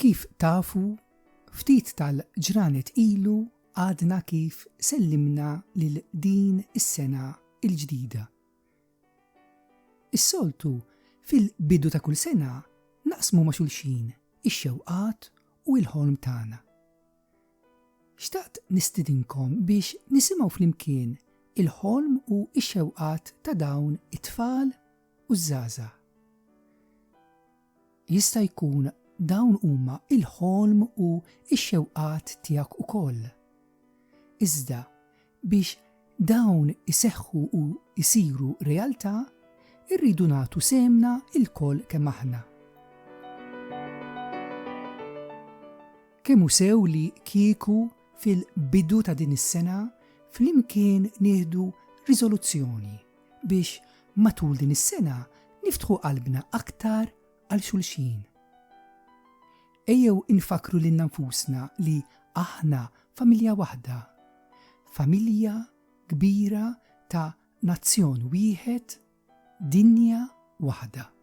Kif tafu, ftit tal-ġranet ilu għadna kif sellimna lil din is-sena il-ġdida. Is-soltu, fil-bidu ta' kull sena, naqsmu ma' xulxin ix-xewqat u il-ħolm tagħna. Xtaqt nistidinkom biex nisimgħu flimkien il-ħolm u x-xewqat ta' dawn it-tfal u ż-żgħażagħ. Jista' jkun dawn huma l-ħolm u x-xewqat tiegħek ukoll. Iżda, biex dawn iseħħu u jsiru realtà, irridu nagħtu sehemna lkoll kemm aħna. Kemm hu sew li kieku fil-bidu ta' din is-sena flimkien nieħdu riżoluzzjoni! biex matul din is-sena niftħu qalbna aktar għal xulxin. Ejjew infakkru lilna nfusna li aħna familja waħda, familja kbira ta' nazzjon wieħed, dinja waħda.